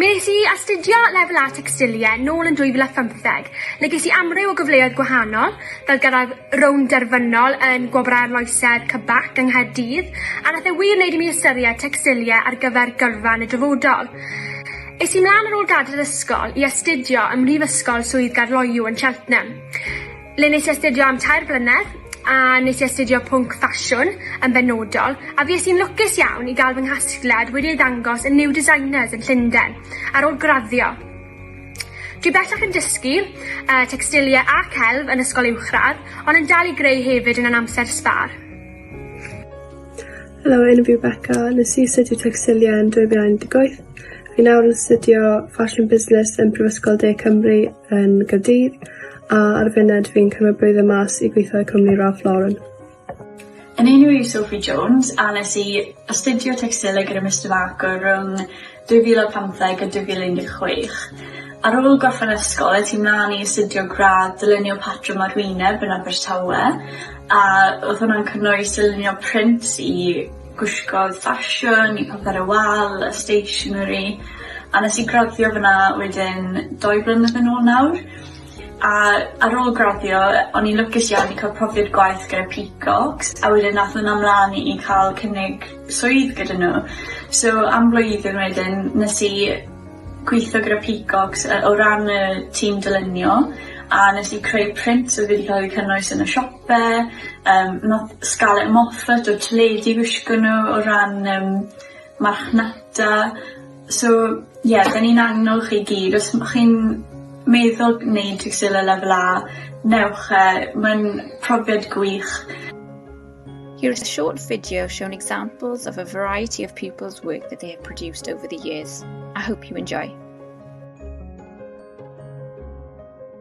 Mi wnes i astudio Lefel A Tecstilie nôl yn 2015 le ges i amryw o gyfleoedd gwahanol fel gyrraedd rownd derfynol yn Gwobrau Arloesedd CBAC yng Nghaerdydd a nath e wir wneud i mi ystyried tecstilie ar gyfer gyrfa yn y dyfodol. Es i mlan ar ôl gadael yr ysgol i astudio ym Mhrifysgol Swydd Gaerloyw yn Cheltenham. le nes i astudio am tair blynedd a nes i astudio pwnc ffasiwn yn benodol, a fues i'n lwcus iawn i gael fy nghasgliad wedi ei ddangos yn New Designers yn Llundain ar ôl graddio. Dwi bellach yn dysgu uh, textilia a celf yn ysgol uwchradd, ond yn dal i greu hefyd yn an amser sbar. Helo, enw fi Becca. Nes i astudio textilia yn 2018. Fi nawr yn astudio Fashion Business yn Prifysgol De Cymru yn Gaerdydd a ar y funud fi'n cymryd blwyddyn mas i gweithio i cwmni Ralph Lauren. Yn enw i Sophie Jones a nes i astudio tecstilau gyda Mister Marco rhwng 2015 a 2016. Ar ôl gorffen ysgol es i mlaen i astudio gradd dylunio patrwm ar wyneb yn Abertawe a o'dd hwnna'n cynnwys dylunio print i gwisgoedd ffasiwn i papur y wal a stationery a nes i graddio fyn 'na wedyn dou flynedd yn ôl nawr a ar ôl graddio o'n i'n lwcus iawn i ca'l profiad gwaith gyda Peacocks a wedyn nath wnna mlan i i ca'l cynnig swydd gyda n'w so am flwyddyn wedyn nes i gwitho gyda Peacocks yy o ran y tîm dylunio a nes i creu print o'dd wedi ca'l ei cynnwys yn y siop fe yym nath Scarlett Moffat o'r teledu wisgo n'w o ran yym marchnata so ie 'dyn ni'n annog chi gyd os ma' chi'n meddwl neud Twrsiela Lefel A newch e ma'n profiad gwych. Here is a short video showing examples of a variety of pupils work that they have produced over the years. I hope you enjoy.